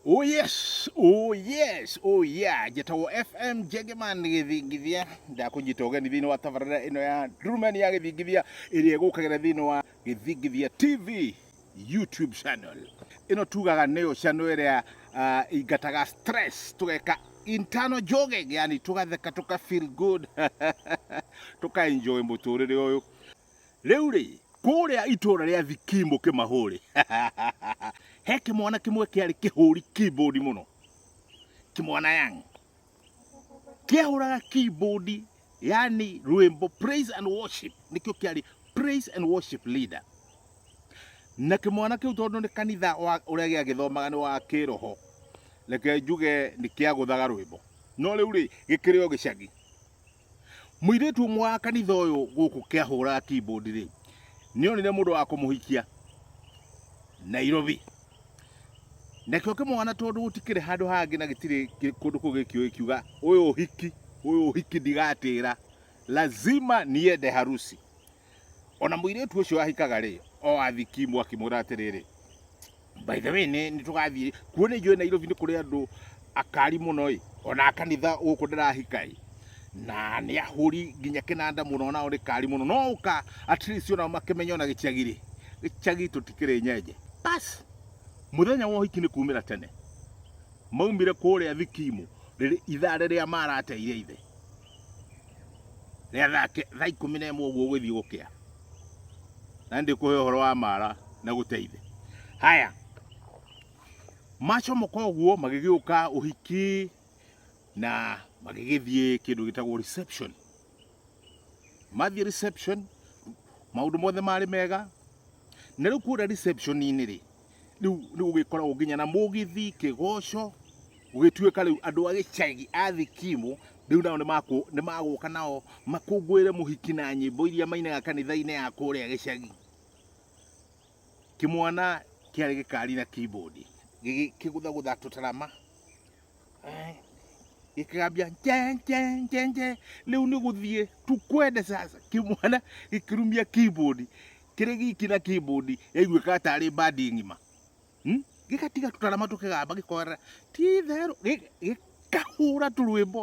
Oh yes, oh yes, oh yeah. Njĩtagwo FM Njengeman Gĩthingithia. Ndakũnyita ũgeni thĩinĩ wa tabarĩra ĩno ya Ndurumeni ya Gĩthingithia ĩrĩa ĩgũkagĩra thĩinĩ wa Gĩthingithia TV YouTube channel. Ĩno tugaga nĩyo channel ĩrĩa ah, ingataga stress, tũgeka internal jogging, yani tũgatheka tũka feel good, tũka enjoy mũtũrĩre ũyũ. rĩu rĩ kũrĩa itũra rĩa thikimu kĩmahũrĩ he kĩmwana kĩmwe kĩarĩ kĩhũri keyboard mũno kĩmwana yang kĩahũraga keyboard yani rwĩmbo praise and worship nĩkĩo kĩarĩ praise and worship leader na kĩmwana kĩu tondũ nĩ kanitha wa- ũrĩa gĩagĩthomaga nĩ wa kĩroho reke njuge nĩ kĩagũthaga rwĩmbo no rĩu rĩ gĩkĩrĩ o gĩcagi Mũirĩtu ũmwe wa kanitha ũyũ gũkũ kĩahũra keyboard rĩ nĩonire mũndũ wa kũmũhikia Nairobi nakĩo kĩmwana tondũ gũtikĩrĩ handũ hangĩ na gĩtirĩ kũndũ kũu gĩkĩũĩ kiuga ũyũ ũhiki ũyũ ũhiki ndigatĩra lazima niende harusi O na mũirĩtu ũcio ahikaga-rĩ, o athikimwo akĩmwĩra atĩrĩrĩ, By the way, nĩ nĩ tũgathiĩ kuo nĩ njũĩ Nairobi nĩ kũrĩ andũ akari mũno-ĩ, o na a kanitha gũkũ ndĩrahika-ĩ, na nĩ ahũri nginya kĩnanda mũno o nao nĩ kari mũno, no ũka at least o nao makĩmenye o na gĩcagi-rĩ, gĩcagi tũtikĩrĩ nyenje. Bas, mũthenya wa ũhiki nĩ kumĩra tene maumire kũrĩa thikimu rĩrĩ ithaa rĩrĩa marateire ithe. rĩa thaa ke- thaa ikũmi na ĩmwe ũguo ũgĩthiĩ gũkĩa na ndĩkũhe ũhoro wa mara na gũteithe haya macomoka ũguo magĩgĩũka ũhiki na magĩgĩthiĩ kĩndũ gĩtagwo reception mathiĩ reception maũndũ mothe marĩ mega na rĩu kũrĩa reception-inĩ rĩ rĩu nĩ gũgĩkoragwo nginya na mũgithi kĩgoco gũgĩtuĩka rĩu andũ a gĩcagi a thikimu rĩu nao nĩmakũ- nĩmagũka nao makũngũĩre mũhiki na nyĩmbo iria mainaga kanitha-inĩ ya kũrĩa gĩcagi kĩmwana kĩarĩ gĩkari na keyboard gĩgĩ- kĩgũthagũtha tũtarama Eh, gĩkĩgambia nje nje nje nje rĩu nĩ gũthiĩ tukwende sasa kĩmwana gĩkĩrumia keyboard kĩrĩ giki na keyboard yaiguĩka tarĩ bandi ng'ima Hmm? gĩgatiga tũtarama tũkĩgamba gĩkorera ti itherũ gĩ- gĩkahũra tũrwĩmbo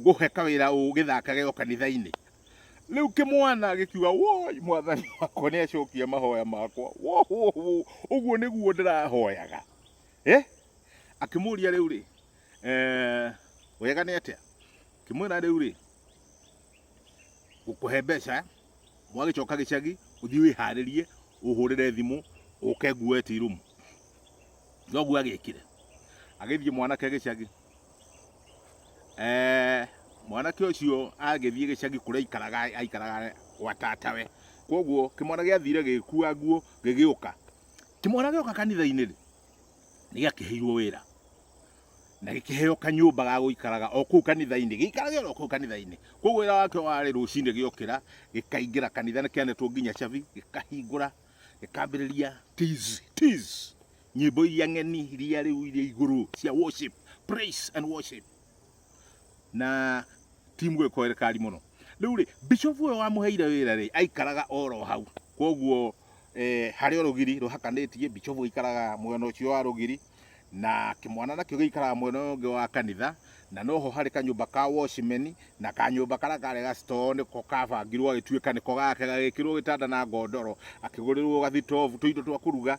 ngũhe kawĩra ũgĩthakage o kanitha-inĩ rĩu kĩmwana gĩkiuga woi mwathani wakwa nĩ acokia mahoya makwa wo wo wo ũguo nĩguo ndĩrahoyaga eh? akĩmũria rĩu rĩ eh, wega nĩ atĩa kĩmwĩra rĩu rĩ ngũkũhe mbeca mwagĩcoka gĩcagi ũthiĩ wĩharĩrie ũhũrĩre thimũ ũke nguoe tirumu noguo agĩkire agĩthiĩ mwanake gĩcagi Eh, mwanake ũcio agĩthiĩ gĩcagi kũrĩa aikaraga aikaraga gwa tatawe koguo kĩmwana gĩathire gĩgĩkua nguo gĩgĩũka kĩmwana gĩoka kanitha-inĩ rĩ nĩ gĩakĩheirwo wĩra na gĩkĩheo kanyũmba ga gũikaraga o kũu kanitha-inĩ gĩikarage o kũu kanitha-inĩ koguo wĩra wakĩo warĩ rũcinĩ gĩokĩra gĩkaingĩra kanitha nĩ kĩanetwo nginya cabi gĩkahingũra gĩkambĩrĩria tizi tizi Nyĩmbo iria ng'eni iria rĩu iria igũrũ cia worship, praise and worship. Na timu ĩko ĩrĩkari mũno. Rĩu rĩ, bishop ũyũ wamũheire wĩra rĩ, aikaraga oro hau. Koguo eh, harĩ orũgiri rũhakanĩtie, bishop aikaraga mwena ũcio wa rũgiri na kĩmwana nakĩo gĩikaraga mwena ũyũ ũngĩ wa kanitha na noho harĩ kanyũmba ka watchman na kanyũmba karĩa karĩ ga store nĩko kabangirwo gagĩtuĩka nĩko gake gagĩkĩrwo gĩtanda na ngondoro akĩgũrĩrwo gathitobu tũindo twa kũruga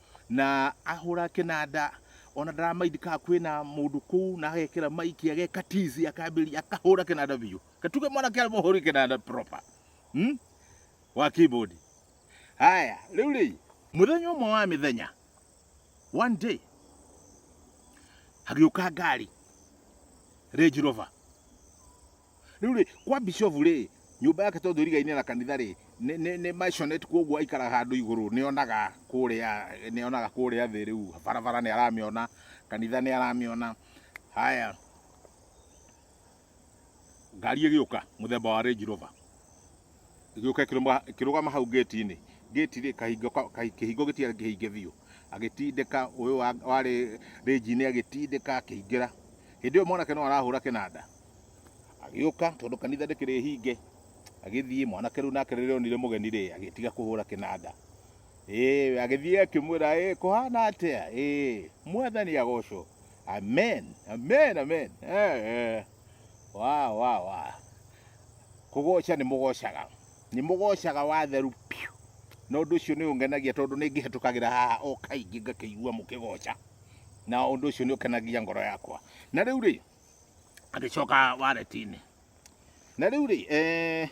Na ahũra kĩnanda ona ndaramaindi ka kwĩna mũndũ kũu na agekĩra maiki ageka tizi akambĩrĩria akahũra kĩnanda biũ katuge mwanake arĩ mũhũri kĩnanda proper hmm? wa keyboard haya rĩu rĩ mũthenya ũmwe wa mĩthenya one day hagĩũka ngari Range Rover Rĩu rĩ, kwa bishofu rĩ, nyũmba yake tondũ ĩrigainĩ na kanitha rĩ, nĩ- nĩ nĩ maisonette kwoguo aikaraga handũ igũrũ, nĩonaga kũrĩa nĩonaga kũrĩa thĩ rĩu barabara nĩ aramĩona, kanitha nĩ aramĩona. Haya, ngari ĩgĩũka mũthemba wa Range Rover ĩgĩũka ĩkĩrũma- ĩkĩrũgama hau ngĩti-inĩ ngĩti rĩ kahingo ka- kahi- kĩhingo gĩtiarĩ kĩhinge biũ agĩtindĩka ũyũ wa- warĩ rĩnji-inĩ agĩtindĩka akĩingĩra hĩndĩ ĩyo mwanake no arahũra kĩnanda Agĩũka tondũ kanitha ndĩkĩrĩ hinge, agĩthiĩ mwanake rĩu nake rĩrĩa onire mũgeni rĩ, agĩtiga kũhũra kĩnanda. Ĩĩ, agĩthiĩ akĩmwĩra, ĩĩ, kũhana atĩa? Ĩĩ, mwathani agocwo. Amen, amen, amen. Eh, eh. Wa, wa, wa. Kũgoca nĩ mũgocaga. Nĩ mũgocaga watheru piũ. Na ũndũ ũcio nĩ ũngenagia tondũ nĩ ngĩhetũkagĩra haha o kaingĩ ngakĩigua mũkĩgoca. Na ũndũ ũcio nĩ ũkenagia ngoro yakwa. Na rĩu rĩ, agĩcoka wareti-inĩ na rĩu rĩ eh,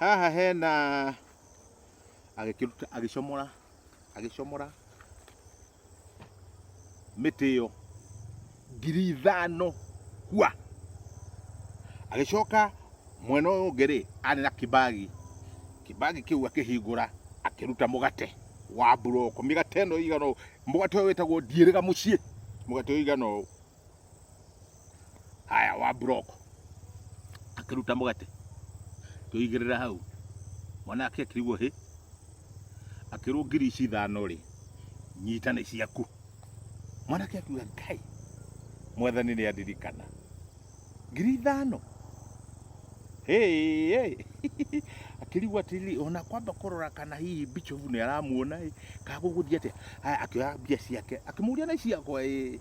haha hena agĩkĩruta agĩcomora agĩcomora mĩtĩ ĩyo ngiri ithano kwa agĩcoka mwena ũyũ ũngĩ rĩ arĩ na kibagi kibagi kĩu akĩhingũra akĩruta mũgate wa buroko mĩgate ĩno ĩigana ũũ mũgate ũyũ wĩtagwo ndiĩrĩga mũciĩ mũgate ũyũ ũigana ũũ haya wa block akiruta mũgate kĩoigĩrĩra hau mwanake akĩrigwo hĩ akĩrwo ngiri ici ithano rĩ nyita nĩ ciaku mwanake akiuga ngai mwathani nĩ andirikana ngiri ithano Hey, hey. akĩrigwo atĩrĩrĩ ona kwamba kũrora kana hihi bichovu nĩ aramuona ĩ kana gũgũthiĩ atĩa Haya, akĩoya mbia ciake akĩmũria nĩ ciakwa ĩ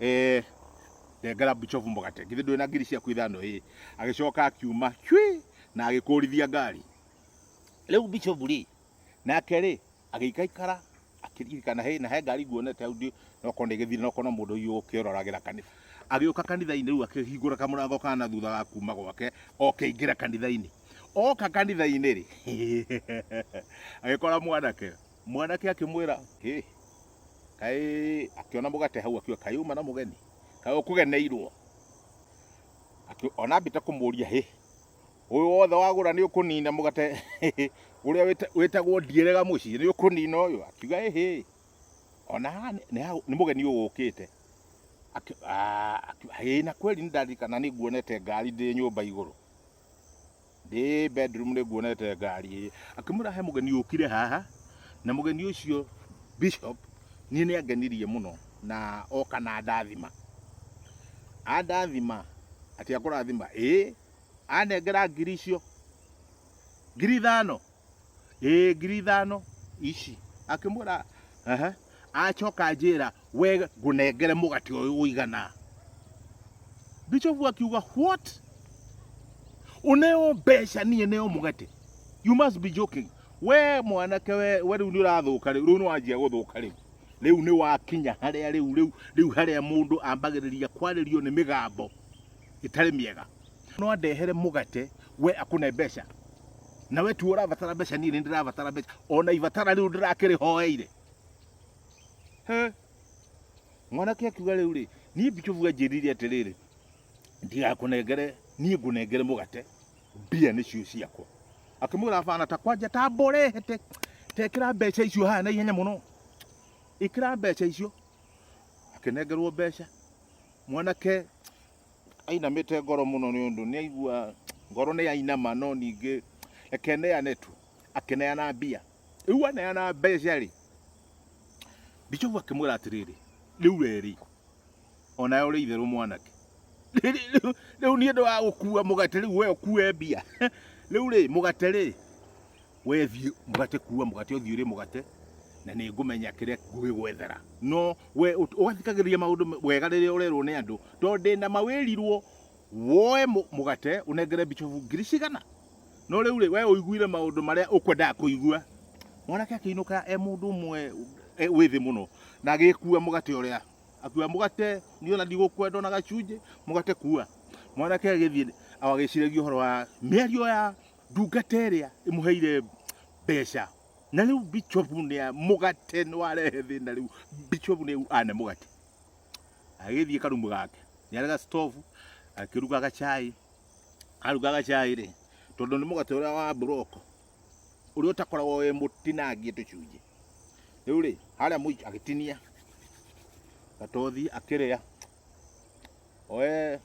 ee ndengera bicobu mũgate githĩ ndwĩ na ngiri ciaku ithano ĩ agĩcoka akiuma cwi na agĩkũrithia ngari rĩu bicobu rĩ nake rĩ agĩikaikara akĩririkana he na he ngari nguonete hau ndĩ nokorwo nĩ gĩthiri nokorwo no mũndũ ũyũ ũkĩororagĩra kanitha agĩũka kanitha-inĩ rĩu akĩhingũra kamũrango ka na thutha wa kuma gwake okĩingĩra kanitha-inĩ oka kanitha-inĩ rĩ agĩkora mwanake mwanake akĩmwĩra "Hĩ, kaĩ akĩona mũgate hau akiuga kaĩ uma na mũgeni kaĩ ũkũgeneirwo Akĩ- ona ambĩte kũmũria hĩ ũyũ wothe wagũra nĩ ũkũnina mũgate ũrĩa wĩta- wĩtagwo ndierega mũciĩ nĩ ũkũnina ũyũ akiuga ĩhĩ ona haha nĩ- nĩ ha- nĩ mũgeni ũyũ ũkĩte Akĩ- ah, akiuga, "Ĩĩ, na kweli nĩ ndaririkana nĩ nguonete ngari ndĩ nyũmba igũrũ Ndĩ bedroom nĩ nguonete ngari. Akĩmwĩra he mũgeni ũkire haha na mũgeni ũcio Bishop niĩ nĩ angenirie mũno na oka na ndathima. Andathima atĩ akũrathima? Ĩĩ. Anengera ngiri icio, ngiri ithano. ĩ ngiri ithano ici akĩmwĩra ehe acoka anjĩra we ngũnengere mũgate ũyũ ũigana Bishop akiuga what uneo mbeca niĩ neo mũgate you must be joking we mwanake we we rĩu nĩ ũrathũka rĩu rĩu nĩ wanjia gũthũka rĩu rĩu nĩ wakinya harĩa rĩu rĩu rĩu harĩa mũndũ ambagĩrĩria kwarĩrio nĩ mĩgambo ĩtarĩ mĩega no andehere mũgate we akũne mbeca na we tu ũrabatara mbeca niĩ nĩ ndĩrabatara mbeca ona ibatara rĩu ndĩrakĩrĩhoeire He. mwanake akiuga rĩu rĩ niĩ bicobu anjĩrire atĩrĩrĩ ndigakũnengere niĩ ngũnengere mũgate mbia nĩcio ciakwa akĩmwĩra bana ta kwanja ta mborehete tekĩra mbeca icio haha na ihenya mũno ĩkĩra mbeca icio akĩnengerwo mbeca mwanake Ainamĩte ngoro mũno nĩ ũndũ nĩaigua ngoro nĩyainama no ningĩ reke neane tu. Akĩneana mbia. Rĩu aneana mbeca-rĩ, Bijobu akĩmwĩra atĩrĩrĩ, rĩu werĩ, o nawe ũrĩ itherũ mwanake. Rĩu niĩ ndĩ wa gũkua mũgate rĩu we ũkue mbia? Rĩu-rĩ, mũgate-rĩ. We thiĩ mũgate kuua mũgate ũthiĩ ũrĩ mũgate na nĩ ngũmenya kĩrĩa ngwĩgwethera no we ũgathikagĩrĩria maũndũ wega rĩrĩa ũrerwo nĩ andũ tondũ ndĩ na mawĩrirwo woe mũgate ũnengere bicobu ngiri cigana no rĩu rĩ we ũiguire maũndũ marĩa ũkwendaga kũigua mwanake akĩinũka e mũndũ ũmwe e, wĩ thĩ mũno na agĩkua mũgate ũrĩa akua mũgate niona ndigũkwenda ona gacunjĩ mũgate kua mwanake agĩthiĩ agĩciragia ũhoro wa mĩario ya Ndungata ĩrĩa ĩmũheire mbeca na rĩu bicobu nĩ mũgate nĩ warehe thĩna rĩu bicobu nĩ ane mũgate agĩthiĩ karumu gake nĩ arega stovu akĩruga gacai aruga gacai rĩ tondũ nĩ mũgate ũrĩa wa buroko ũrĩa ũtakoragwo wĩ mũtinangie tũcunjĩ rĩu rĩ harĩa mũico agĩtinia gatothi akĩrĩa oe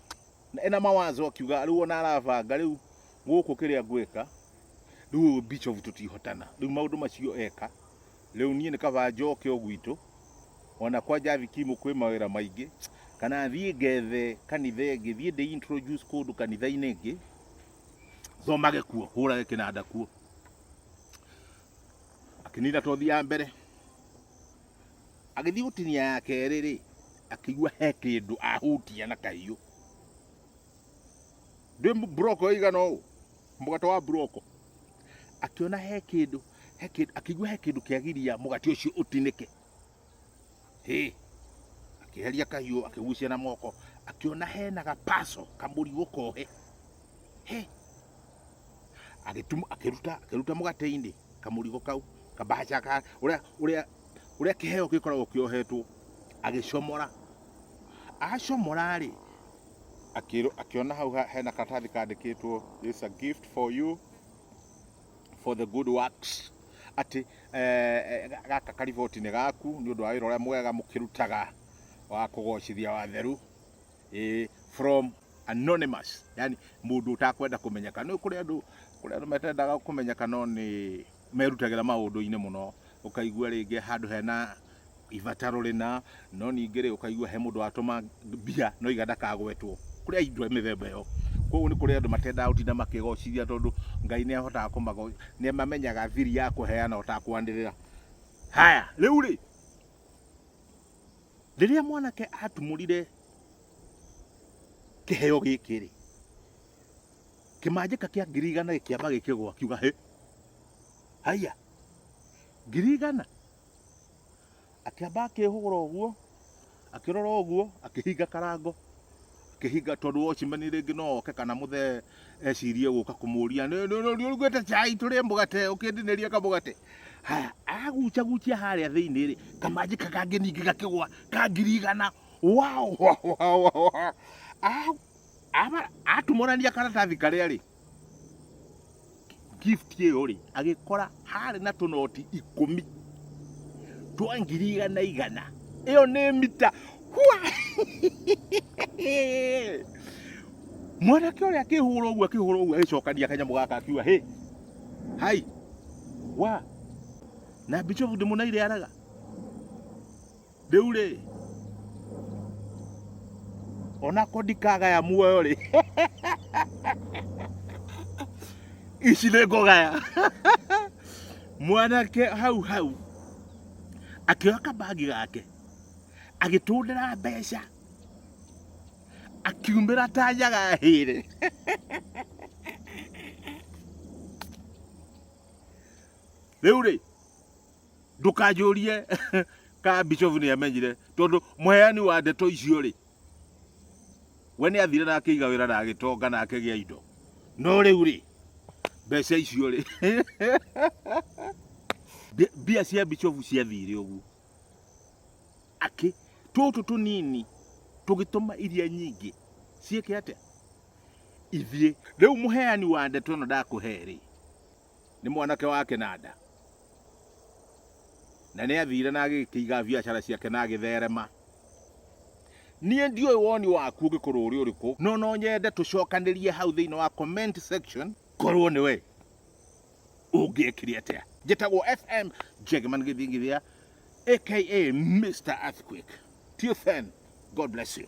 ena mawazo akiuga rĩu ona arabanga rĩu gũkũ kĩrĩa ngwĩka rĩu Bishop tũtihotana rĩu maũndũ macio eka rĩu niĩ nĩ kaba njoke o gwitũ ona kwa Javi Kimu kwĩ mawĩra maingĩ kana thiĩ ngethe kanitha ĩngĩ thiĩ ndĩ introduce kũndũ kanitha-inĩ ĩngĩ thomage kuo hũrage kĩnanda kuo akinina tothi ya mbere Agĩthiĩ gũtinia ya kerĩ-rĩ, akĩigua he kĩndũ ahutia na kahiũ. Ndĩ mburoko ĩigana ũũ, mũgate wa mburoko. Akĩona he kĩndũ, he kĩndũ, akĩigua he kĩndũ kĩagiria mũgate ũcio ũtinĩke. Hĩ, akĩeheria kahiũ, akĩgucia na moko, akĩona hena gapaco, kamũrigo kohe. He. Agĩtuma akĩruta akĩruta mũgate-inĩ kamũrigo kau kabaca ka ũrĩa ũrĩa ũrĩa kĩheo gĩkoragwo kĩohetwo agĩcomora acomora rĩ akĩrwo akĩona hau ha- hena karatathi kandĩkĩtwo this is a gift for you for the good works atĩ eh, eh, ga- gaka kariboti nĩ gaku nĩ ũndũ wa wĩra ũrĩa mwega mũkĩrutaga wa kũgocithia watheru eh, from anonymous yani mundu utakwenda kumenyeka no kuri andu kuri andu metendaga kumenyeka no ni merutagira maundu-ini muno ukaigua ringi handu hena ibataro rina no ningĩ rĩ ukaigua he mũndũ watũma mbia no iga ndakagwetwo kũrĩ aindu a mĩthemba ĩyo koguo nĩ kũrĩ andũ matendaga gũtinda makĩgocithia tondũ ngai nĩ ahotaga kũmago nĩ amamenyaga thiri ya kũheana ũtakwanĩrĩra haya rĩu rĩ Rĩrĩa mwanake atumũrire kĩheo gĩkĩ rĩ, kĩmanjĩka kĩa ngiri igana gĩkĩamba gĩkĩgwa kiuga hĩ, haiya ngiri igana. Akĩamba akĩhũgũra ũguo akĩrora ũguo akĩhinga karango kĩhinga tondũ wocimani rĩngĩ no oke kana mũthee ecirie gũka kũmũria nĩũrugĩte chai tũrĩe mũgate ũkĩndinĩria kamũgate haya araguchaguchia harĩa thĩinĩ rĩ kamanjĩ kakange ningĩ gakĩgwa kangirigana wao atumũrania karatathi karĩa rĩ gift ĩyo rĩ agĩkora harĩ na tũnoti ikũmi twa ngiri igana igana ĩyo nĩ mita Hua! mwanake ũrĩa akĩhũra ũguo akĩhũra ũguo agĩcokania kanyamũ gaka akiuga hĩ hai wa na mbicobu ndĩmũnaire araga Rĩu rĩ, onako ndikagaya muoyo rĩ, ici nĩ ngũgaya. Mwanake hau hau akĩoya kabagi gake agĩtũndĩra mbeca akiumĩra ta nyaga hĩre. Rĩu rĩ, ndũkanjũrie ka bishop nĩ amenyire tondũ mũheani wa ndeto icio rĩ we nĩ athire na akĩiga wĩra na agĩtonga na akĩgĩa indo no rĩu rĩ mbeca icio rĩ Mbi- mbia cia bishop ciathire ũguo akĩ tũtũ tũnini tũgĩtũma iria nyingĩ ciĩke atĩa ithiĩ rĩu mũheani wa ndeto ĩno ndakũhe rĩ Nĩ mwanake wa kĩnanda, na nĩ athire na agĩkĩiga biacara ciake na agĩtherema. Niĩ ndiũĩ woni waku ũngĩkorwo ũrĩ ũrĩkũ, no no nyende tũcokanĩrie hau thĩinĩ wa comment section, korwo nĩ we ũngĩekire atĩa. Njĩtagwo FM Jagaman Gĩthingithia aka Mister Earthquake. Till then, God bless you.